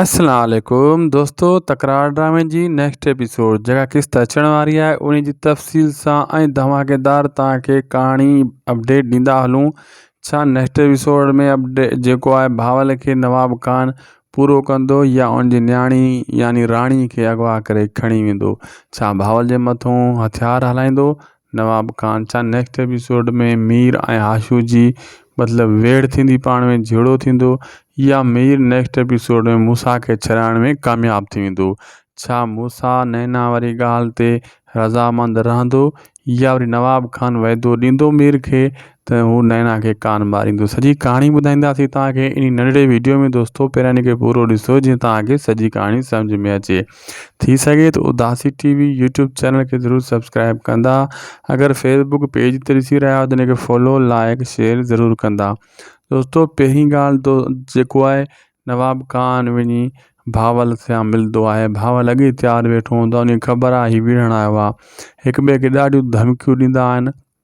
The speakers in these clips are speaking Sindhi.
السلام عليڪم دوستو تڪرار ڊرامي جي نيڪسٽ ايپيسوڊ جيڪا قسط اچڻ واري آهي ان جي تفصيل سان ۽ ڌماڪيدار توهان کي ڪهاڻي اپڊيٽ ڏيندا هلون ڇا نيڪسٽ ايپيسوڊ ۾ اپڊيٽ جيڪو آهي بهاول کي نواب خان پورو ڪندو يا ان جي نياڻي يعني راڻي کي اغوا ڪري کڻي ويندو ڇا بهاول جي مٿون هٿيار هلائيندو نواب خان سان نيڪسٽ ايپيسوڊ ۾ مير ۽ آشو جي مطلب ويڙهه ٿيندي پاڻ ۾ جهيڙو ٿيندو يا مير نيڪسٽ ايپيسوڊ ۾ موسيٰ کي ڇڏائڻ ۾ ڪامياب ٿي ويندو ڇا موسيٰ نينا واري ڳالهه تي رضامند رهندو يا وري نواب خان وعدو ڏيندو مير کي ته هو نينا کي ڪان ماريندو سڄي ڪهاڻي ٻڌائينداسين توهان کي انهي ننڍڙي ويڊيو ۾ دوستو پهريان ان کي پورو ڏسو جيئن توهان کي سڄي ڪهاڻي سمجهه ۾ اچي ٿي سگهي ته Udasi T V YouTube channel کي ضرور سبسڪرائب ڪندا اگر فيس بڪ پيج تي ڏسي رهيا آهيو ته ان کي فالو لائڪ شيئر ضرور ڪندا دوستو پهرين ڳالهه تو جيڪو آهي نواب خان وڃي ڀاول سان ملندو آهي ڀاول اڳي تيار ويٺو هوندو آهي ان کي خبر آهي هي وڙهڻ آيو آهي هڪ ٻئي کي ڏاڍيون ڌمڪيون ڏيندا آهن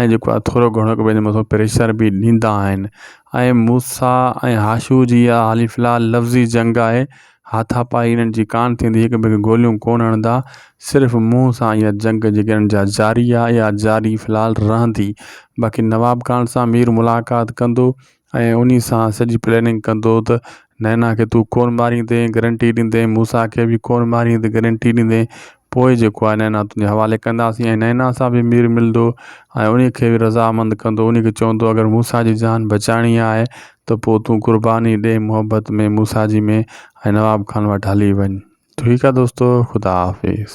۽ جيڪو آهي ٿورو گهڻو هڪ ٻئي جي مٿان پريشر به ڏيندا آهن ۽ موسيٰ ۽ حاشو جي اها حال في الحال لفظي جنگ آهي هاٿا پائي انهن جي ڪانه ٿيندي هڪ ٻئي کي گوليون ڪونه هڻندا صرف منهن سان اها جنگ جيڪي انهن جا جاري آهي اها جاري في الحال رهندي باقي نواب خان سان مير ملاقات ڪندو ۽ انهي سان سڄي پلاننگ ڪندو ته نينا کي تون ڪونھ ماريندي گرنٽي ڏيندي موسيٰ کي به ڪونھ ماريندي گرنٽي ڏيندي پوء جيڪو آهي نينا تنهنجي حوالي ڪنداسين ۽ نينا سان به مير ملندو ۽ انهي کي به رضامند ڪندو انهي کي چوندو اگر موسيٰ جي جان بچائڻي آهي ته پوء تون قرباني ڏي محبت ۾ موسيٰ جي ۾ ۽ نواب خان وٽ هلي وڃ ٺيڪ آهي دوستو خدا حافظ